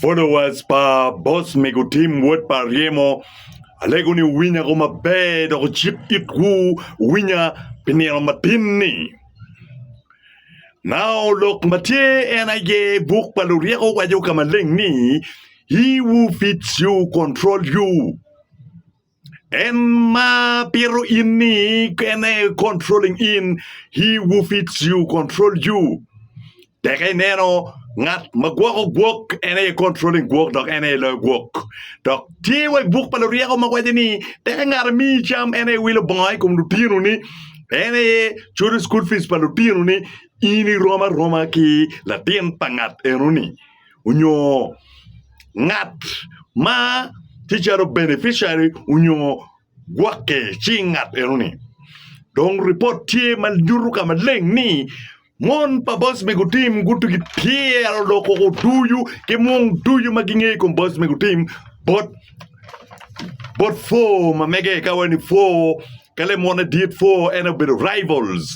Followers pa boss mego Tim wod pa Aryemo alego ni wuwinya ko maber dok wucik itwu wuwinya pi nino matin ni. Nao lok ma tye en aye buk pa luryeko waco ka maleng ni He who feeds you control you. En ma pito in ni en aye controlling in, he who feeds you control you. Teke ineno ngat ma gwoko gwok en aye controlling gwok dok en aye loyo gwok. Dok tye wa i buk pa luryeko ma waco ni teke ngat amiyi cam en aye wilo bongo i kom lutinoni, en aye culo cukul pic pa lutinoni, in irom aroma ki latin pa ngat enoni. onyo ngat ma tye calo beneficiary onyo gwokke ci ngat eno ni dong ripot tye ma nyuto ka maleng ni mon pa boss mego tim guti ki pyero dok koko ducu ki mung ducu ma gingeyo i kom boss mego tim bot bot four ma mege ka waci ni four ka lemone dit four en aye obedo rivals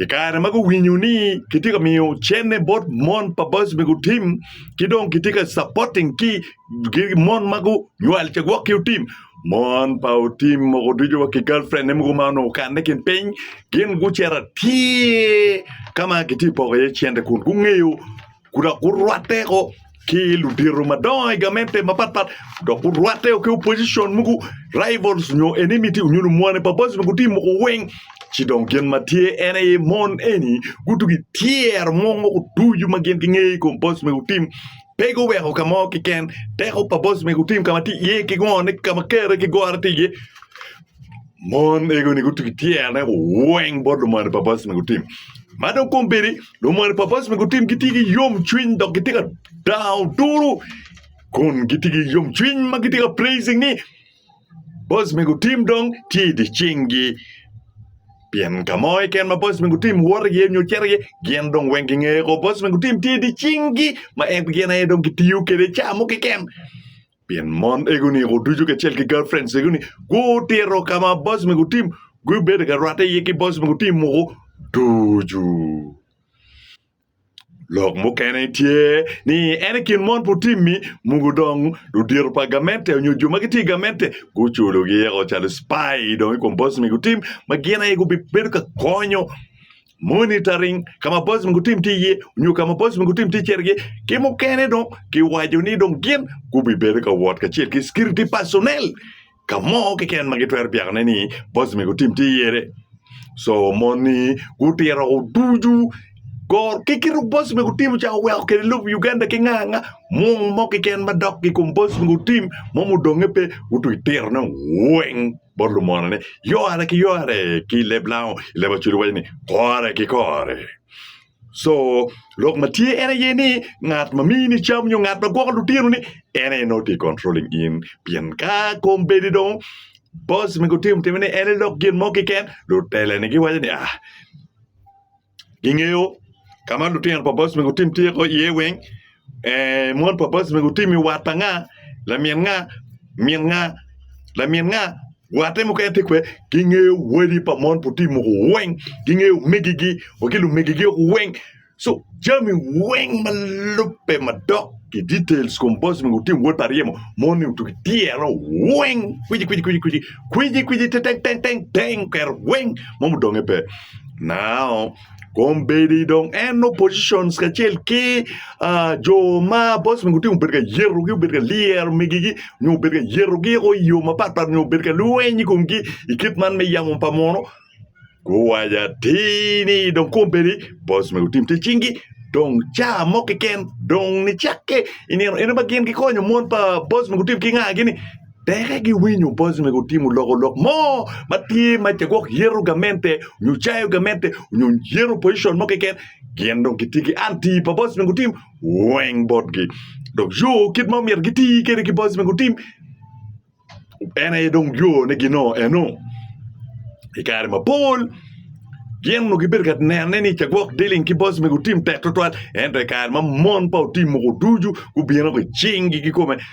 I kare ma guwinyo ni kitye ka miyo cene bot mon pa boys me gutim ki dong kitye ka supporting ki mon ma gunywal ce gwok ki otim, mon pa otim mogo ducu wa ki girlfriend ne mogo ma onongo okanne kin piny gin gucito atir ka ma kitye ka poko iye cente kun gungeyo ku dok gurwatteo ki ludito madongo i gamente mapatpat dok gurwatteo ki opposition mogo rivals nyo enmity nyo lumwane pa boys mogo gitye ka moko weng ci dong gin ma tye en aye mon eni gutugo i tyer mo ma gutuco ma gin gingeyo i kom boys mogo tim pe guweko ka mo keken teko pa boys mogo tim ka ma tye iye ki ngone ka ma kare ki gore tye iye. Mon ego-ni gutugo i tyene weng bot lumony Epapraras ma gutim. Ma dong kombeddi, lumony Epapraras ma gutim gitye ki yomcwiny dok gitye ka dango turu kun gitye ki yomcwiny ma gitye ka praising ni bos ma gutim dong tye i dye cinggi. Pien ka mo keken ma bos ma gutim woto iye nyo cito iye, gin dong weng gingeyo ko bos ma gutim tye i dye cinggi ma en gin aye dong gitiyo kwede i cawa mo keken. Pien mon egoni o ducu kacel ki girlfriends egoni gutito ka ma boys me gutim gubedo ka rwatte iye ki boys me gutim mogo ducu. Lok mukene tye ni en i kin mon putimmi mogo dong ludito pa gamente onyo jo ma gitye i gamente guculogi eko calo spy dong i kom boys me gutim ma gin aye gubibedo ka konyo monitoring ka ma boys mogo tim tye iye nyo ka ma boys mogo tim tye cergi ki mukene dong kiwaco ni dong gin gubibedo ka wot kacel ki security personnel ka mo keken ma gitwero byakone ni boys mogo tim tye iyere so moni gutito woko ducu gor ki kit boys mogo tim ca oweko kede lobo Uganda ki nga nga mung mo keken madok ki kom boys mogo tim mo mudonge pe gutwero tirone weng. bot lumona ni, Yore ki yore! Ki i leb Lao, i leb Acholi waco ni, Kore ki kore! Co, lok ma tye en aye ni ngat ma miyi ni cam nyo ngat ma gwoko lutino ni en aye nongo tye controlling in pien ka kombeddi dong boss me gutim time ni en aye lok gin mo keken, luteleni giwaco ni, Ah, gingeyo ka ma lutino pa bosmi gutim tye iye weng, mon pa bosmi gutim i wat pa nga, lamin nga, min nga, lamin nga, watte mukene tye kwede. Gingeyo wadi pa mon pa otim muku weng, gingeyo omegigi wa ki lumegigi woko weng. So jami weng ma lubbe madok i details i kom bosmi gutim wod pa ryemo moni otugo i tyero weng kwicikwici kwicikwici teteng teteng teteng oketo weng mo mudonge pe. Now, kombeddi dong en nongo positions kacel ki ah, jo ma boss migi otingo obedo ka yetogi obedo ka lyero migigi nyo obedo ka yetogi eko i yo mapatpat nyo obedo ka lweny i komgi i kit man me yamo pa muno guwaco atir ni dong kombeddi boss migi otim tic cingi dong caa mo keken dong nicakke i nino eno ma gin gikonyo mon pa boss migi otim ki ngagi-ni Pekke giwinyo bot me gutimo loko lok mo ma tye ma ca gwok yero gamente nyo cayo gamente nyo yero position mo keken gin dong gitye ki anti pa bot me gutim weng botgi dok yo kit ma myero giti kede ki bot me gutim en aye dong yo ne gino eno i kare ma pol gin nongo gibedo ka nene ni ca gwok dealing ki bot me gutim tek twatwal ento i kare ma mon pa otim mogo ducu gubino ki cingi ki kome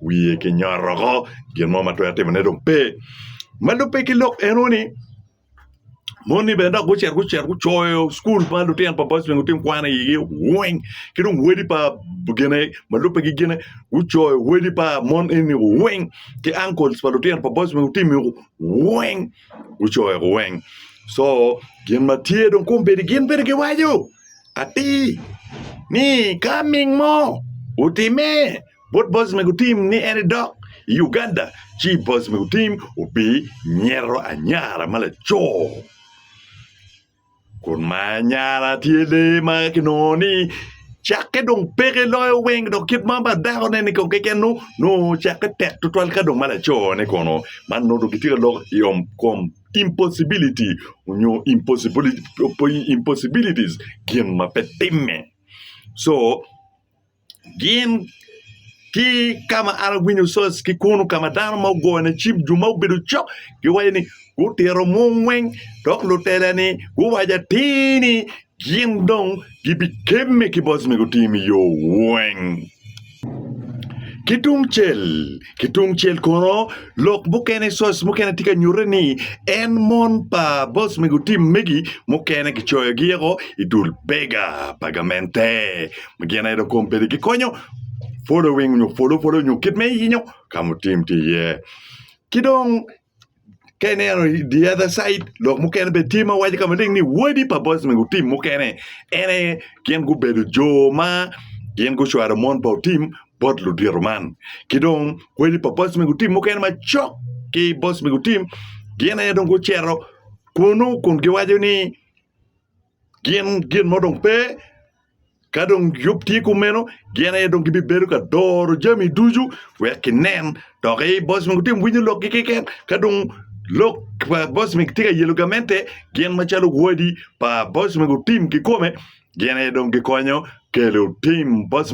wiye ki nyotoko gin mo ma twero timone dong pe ma lubbe ki lok eno ni moni bene dok gucito gucito gucoyo cukul pa lutino pa bocben lutino kwan igi weng ki dong wadi pa gine ma lubbe ki gine gucoyo wadi pa mon eni weng ki ankol pa lutino pa bocben lutimi weng gucoyo weng co gin ma tye dong kombeddi gin bene giwaco atir ni ka ming mo otime Bot boss me gutim ni en edok i Uganda ci boss me gutim obi nyero anyara ma laco kun ma anyara tye lee ma kinongo ni cakke dong peke loyo weng dok kit ma pa dako ne ni kong keken nongo nongo cakke tek tutwal ka dong ma laco ne kono man nongo dong gitye ka lok i yom kom impossibility nyo impossibility impossibilities gin ma pe timme so Gin ki kama an awinyo cos ki kunu kama dano ma ogone cim jo ma obedo cok giwaco ni gutito mungweng dok lutela ni guwaco atir ni gin dong gibikemme ki bot mego tim i yo weng ki tungcel Ki tung cel kono, lok mukene, source, mukene tye ka nyutte ni en mon pa boss mego tim megi mukene kicoyogi eko i dul bega pa gamente ma gin aye dok kom pede gikonyo following nyo follow follow nyo kit me yinyo ka mutim tye iye. Ki dong Ka ineno i the other side lok mukene bene tye ma waco ka maleng ni wadi pa Bosnia nyo tim mukene en aye gin gubedo jo ma gin gucwalo mon pa otim bot ludito man. Ki dong wadi pa Bosnia nyo tim mukene macok ki Bosnia nyo tim gin aye dong gucito kunu kun giwaco ni Gin gin mo dong pe. Ka dong yub tye kumeno, gin aye dong gibibedo ka doro jami ducu wek ginen. Dok ei boc ma gutye winyo lokgi keken, ka dong lok pa boc ma gitye ka yelo gamente, gin macalo wadi pa boc ma gutim kikome, gin aye dong gikonyo kelo tim boc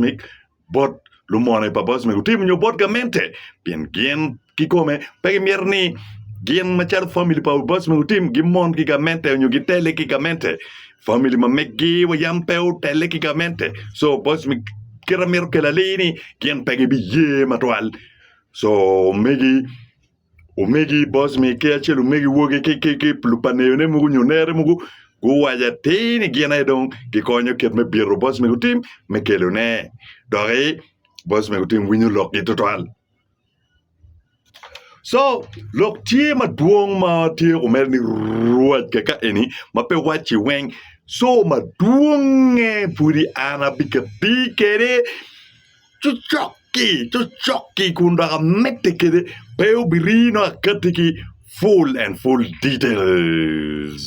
bot lumone pa boc mego tim nyo bot gamente pien gin kikome pe gimito ni gin macalo famili pa boc mego tim gimon ki gamente onyo gitele ki gamente famili ma megi wa yam pe otele ki gamente so boc me kite mito kelo alir ni gin pe gibiye matwal so megi Omegi Bocmi ki acel omegi wogi ki lupaneyone mogo nyo nere mogo guwaco atir ni gin aye dong gikonyo kit me bito Bocmi gutim me kelone. Doki Bocmi gutim winyo lokgi tutwal. Co lok tye madwong ma tye omere ni ruwac kaka eni ma pe wacci weng co madwongnge pudi an abikabir kede Cocok-ki, cocok-ki, kun dok amedde kede, pe wubiri nongo akatti ki full and full details.